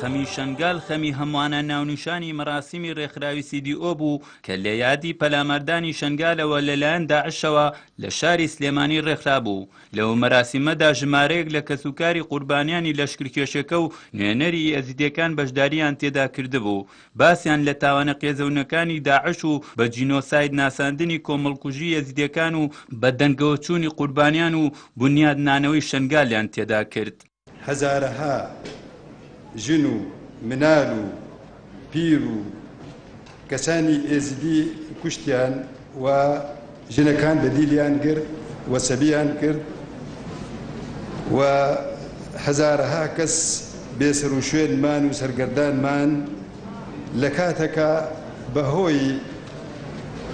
خەمی شەنگال خەمی هەموانە ناونیشانی مەراسیمی رێکخراوی CDO بوو کە لە یادی پەلاماردانی شەنگالەوە لەلایەن داعشەوە لە شاری سلێمانی رێکخرابوو، لەو مەراسیمەدا ژمارەیەک لە کەسوکاری قوربانیانی لەشکرکێشەکە و نوێنەری ئێزیدیەکان بەشدارییان تێدا کردبوو، باسیان لە تاوانە قێزەونەکانی داعش و بە جینۆساید ناساندنی کۆمەڵکوژی ئێزیدیەکان و بەدەنگەوەچوونی قوربانیان و بونیادنانەوەی شەنگالیان تێدا کرد. هەزارەها ژن و منال و پیر و کەسانی ئێزیدی کوشتیان و ژنەکان بە دیلیان گرت و سەبیان کرد و هەزارەها کەس بێسەر و شوێنمان و سەرگەردانمان لە کاتەکە بەهۆی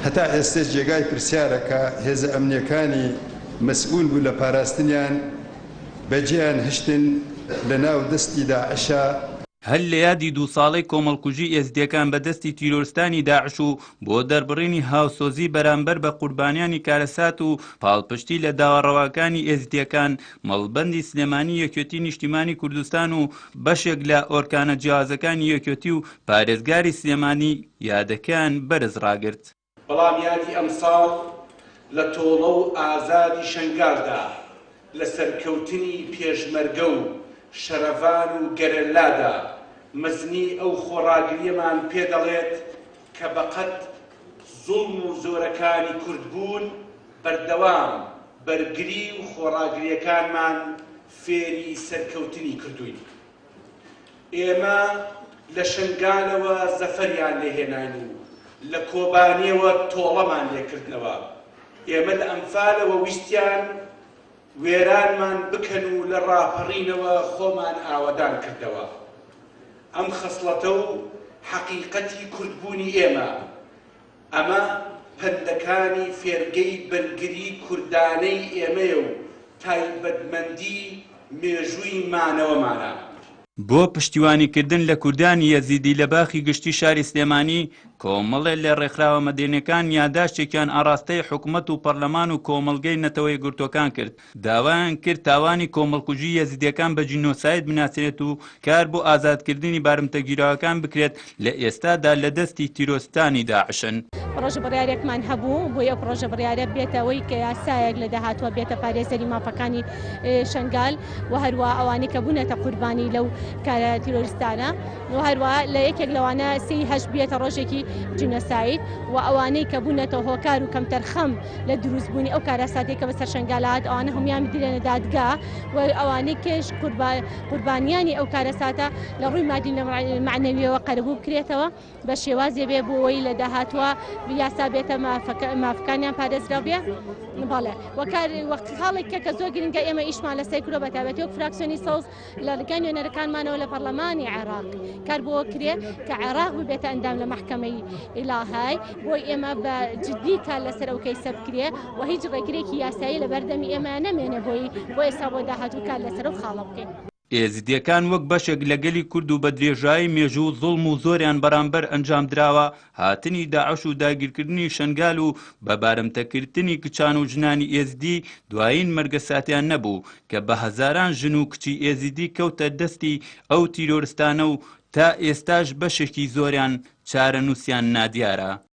هەتا ئێستش جێگای پرسیارە کە هێزە ئەمنیەکانی مەسئول بوو لە پاراستنیان بەجێیان هشتن لە ناو دەستی داعشا. هەر لە یادی دوو ساڵەی کۆمەڵکوژی ئێزدیەکان بە دەستی تیرۆرستانی داعش و بۆ دەربڕینی هاوسۆزی بەرامبەر بە قوربانیانی کارەسات و پاڵپشتی لە داوا ڕەواکانی ئێزدیەکان مەڵبەندی سلێمانی یەکێتی نیشتیمانی کوردستان و بەشێک لە ئۆرکانە جیاوازەکانی یەکێتی و پارێزگاری سلێمانی یادەکەیان بەرز ڕاگرت. بەڵام یادی ئەمساڵ لە تۆڵە و ئازادی شەنگالدا، لە سەرکەوتنی پێشمەرگە و شەرەڤان و گەرەلادا، مەزنی ئەو خۆڕاگرییەمان پێ دەڵێت کە بەقەد زوڵم و زۆرەکانی کورد بوون، بەردەوام بەرگری و خۆڕاگرییەکانمان فێری سەرکەوتنی کردووین. ئێمە لە شنگالەوە زەفەریان لێ هێناین و لە کۆبانێوە تۆڵەمان لێ کردنەوە. ئێمە لە ئەنفالەوە ویستیان وێرانمان بکەن و لە ڕاپەڕینەوە خۆمان ئاوەدان کردەوە. ئەم خەسڵەتە و حەقیقەتی کوردبوونی ئێمە ئەمە پەندەکانی فێرگەی بەرگری کوردانەی ئێمەیە و تایبەتمەندی مێژووی مانەوەمانە. بۆ پشتیوانی کردن لە کوردانی یەزیدی لە باخی گشتی شاری سلێمانی، کۆمەڵێ لە ڕێکخراوە مەدەنیەکان یاداشتێکیان ئاڕاستەی حکومەت و پەڕلەمان و کۆمەڵگەی نەتەوەیەکگرتوەکان کرد داوایان کرد تاوانی کۆمەڵکوژی یەزیدیەکان بە جینۆساید بناسرێت و کار بۆ ئازادکردنی بارمتەگیراوەکان بکرێت لە ئێستادا لە دەستی تیرۆستانی داعشن. پڕۆژە بڕیارێکمان هەبوو بۆی ئەو پڕۆژە بڕیارە بێتە ئەوەی کە یاسایەک لە داهاتوە بێتە پارێزەری مافەکانی شەنگال و هەروە ئەوانەی کە بوونەتە قوربانی لەو کارە تیرۆریستانە. و هەروا لە یەکێک لەوانە سێی هەشت بیەتە ڕۆژێکی جینۆساید و ئەوانەی کە بوونەتە هۆکار و کەمتەرخەم لە دروستبوونی ئەو کارەساتێک کە بەسەر شنگالات ئەوانە هەموان بدرێنە دادگا و ئەوانەی کێش قوربانیانی ئەو کارەساتە لە ڕووی مادی معنەویەوە قەرەبوو بکرێتەوە بە شێوازێ بێ بۆەوەی لە داهاتوە یاسا بێتە مافەکانیان پارێزراو بێ بەڵێ وەکار وەخت خاڵێک کە کە زۆر گرنگە ئێمە ئیشمان لەسەر کرۆ بەتابەتی و فراکسیۆنی سەوز لە ڕێگای نوێنەرەکانمانەوە لە پەڕلەمانی عێڕاق کار بۆ کرێ کە عێڕاق ببێتە ئەندام لە مەحکەمەی ئیلاهای بۆی ئێمە بە جددی کار لەسەر ئەو کەیسە بکرێ و هیچ ڕێگرێکی یاسایی لە بەردەمی ئێمە نەمێنێ بۆی بۆ ئێستا بۆ داهاتوو کار لەسەر ئەو خاڵە بکەین. ئێزدییەکان وەک بەشێک لە گەلی کورد و بە درێژایی مێژوو زوڵم و زۆریان بەرامبەر ئەنجامدراوە، هاتنی داعش و داگیرکردنی شەنگال و بە بارمتەکردنی کچان و ژنانی ئێزدی دوایین مەرگە ساتیان نەبوو کە بە هەزاران ژن و کچی ئێزیدی کەوتە دەستی ئەو تیرۆرستانە و تا ئێستاش بەشێکی زۆریان چارەنووسیان نادیارە.